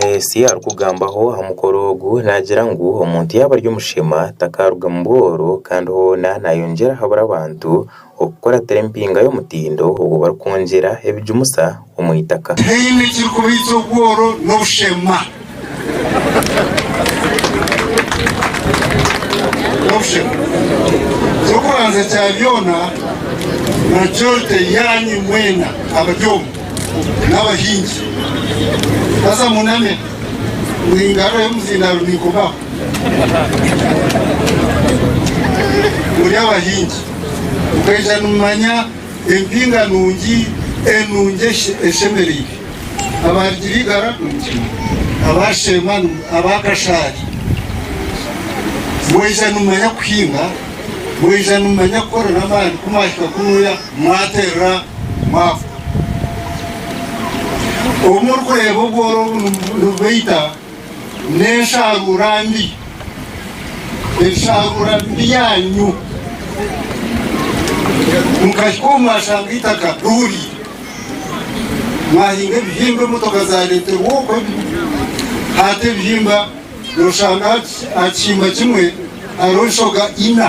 Omubuusi arikugambaho aha mukoro ogu naagira ngu omuntu yaaba ari omushema takaarugamu bworo kandi hoona naayongyera ahabura abantu okukuratira empinga y'omutindo ogu barikwongyera ebijumusa omu itaka. Teine ekirikubaitsa obworo n'obushema. Eky'okubanza kya byona, majority yaanyu mwena abari omu. n'abahingi, haza muname ngu engarura y'omuzindaaro neekomaho. Muri abahingi, mukaija nimumanya empinga nungi, enungi eshemereire. Abaarugiire eigara nimukimanya, abaasheema, abaakashaari. Mwija nimumanya kuhinga, mwija nimumanya kukora n'amaani ku mwahika kunuuya. Mwaterera mwavuga. Obu murikureeba obworo obu nibubaita n'ensharuura mbi, ensharuura mbi yaanyu, mukahika obu mwashanga eitaka rihuriire, mwahinga ebihimba, emotoka zaareeterwa okwo, hati ebihimba nooshanga aha kihimba kimwe hariho enshoga ina.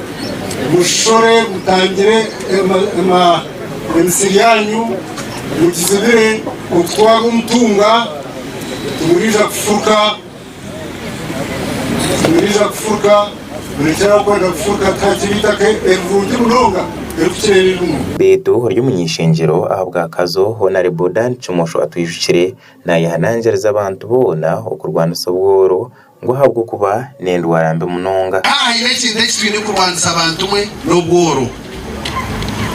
Mushishore mutangire emisiri yaanyu, mugizibire okutwara omutunga, timuriija kufurika, murekyera aho kwenda kufurika tihakiba eitaka erirungi munonga erikukira eririmu. Beitu ori omuny'ishengyero ahabwakazo Honarebo Dan Kimosho atwijukire nayehanangiriza abantu boona okurwanisa obworo Ngu ahabw'okuba n'endwara mbi munonga. A Hariho ekintu eki twine kurwanisa bantumwe, n'obworo.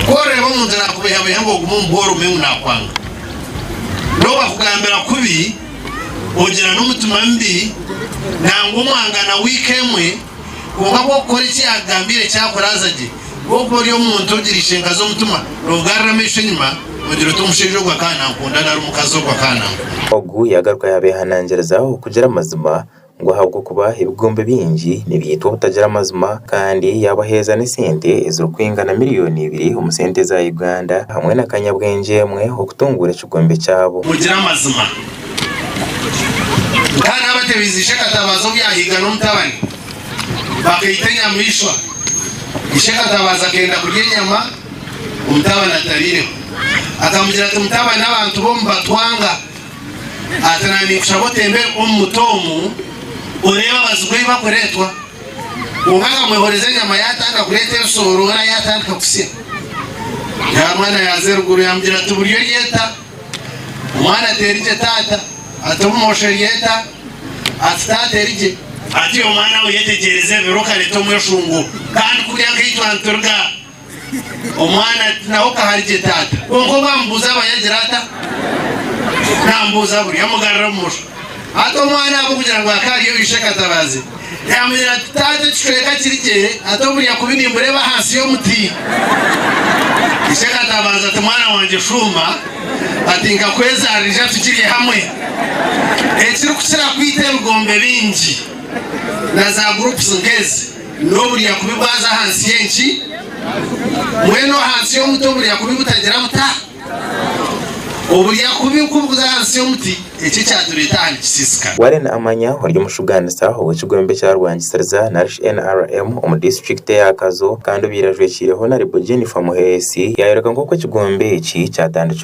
Ku orikureeba omuntu naakubeihabeiha ngu ogume omu bworo omanye ngu naakwanga. N'obu akugambira kubi, ogira n'omutima mubi nangwa omwangana wiika emwe, kwonka ku orikukora eki yaakugambiire kyakuraaza gye, nk'oku ori omuntu ogira eishenkazi omutima, noogarura amaisho enyima, Ogira oti omushaija ogu akaba nankunda nari omukazi ogu akaba nankunda? Ogu yaagaruka yaabeehanangiriza okugira amazima, ngu ahabw'okuba ebigombe bingi nibyaitwa obutagira mazima, kandi yaabaheereza n'esente ezirikwingana miriyooni ibiri omu sente za Uganda hamwe na kanyabwengye emwe okutunguura ekigombe kyabo. Ogira amazima. Nk'aha naabatebiize Ishe Katabaazi obu yaahiga n'omutabani, bakaita enyamaishwa, Ishe Katabaazi akenda kurya enyama, Omutabani atabaireho akamugira ati, Mutabani, abantu bomu batwanga ati, na ninkushaba otembere omu muti omu oreebe abazigu ei bakureetwa. Omwe akamwehoreza enyama yaatandika kureeta ebisooro, we na yaatandika kusya. Nyaamwana yaaza eruguru yaamugira ati, Buri ori eta? Omwana ati, Eri gye taata. Ati, Obumoosho eri eta? Ati, Taata eri gye. Ati, Omwana we yetegyereze ebiro okareeta omweshungu, kandi kurya nk'ei twanturiga. Omwana ati, Nawe okahari gye taata. Kwonka obu amubuuza aba yagira ata? Naamubuuza buri. Amugarura bumosho. Hati omwana ahabw'okugira ngu akaba ari ow'eishe Katabazi, yaamugira ati, Taata ekicweka kiri gye, hati obu ndya kubi nimbureeba ahansi y'omuti. Ishe Katabazi ati, Mwana wangye shuuma, ati nkakwezaarira ija tukirye hamwe. Ekirikukira kwita ebigombe bingi na zaagurupusi nk'ezi. N'oburya kubi bwaza ahansi y'enki? Mbwenu ahansi y'omuti oburya kubi butagira buta? Oburya kubi nk'obu buza ahansi y'omuti, eki ekyatureeta aha nikisiisika. Warren Amanya ori omushugaanisa ow'ekigwembe kya Rwangisiriza narishi NRM omu disiturikiti eya Kazo kandi obaire ajwekiireho na Ribu Jennifer Muheesi yayoreka nk'oku ekigwembe eki kyatandikirwe.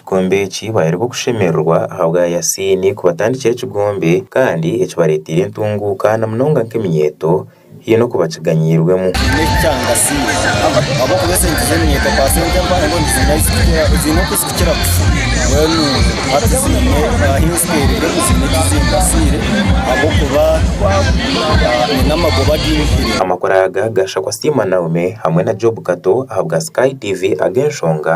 Ekikombe eki baayeri b'okushemererwa ahabwa Yasiini kubatandikira ekigombe kandi ekibareeteire entunguuka na munonga nk'eminyeeto haine n'oku bakiganyiirwemu. Amakuru aga gaashakwa Siima Naome hamwe na Job Kato ahabwa Sky TV ag'enshonga.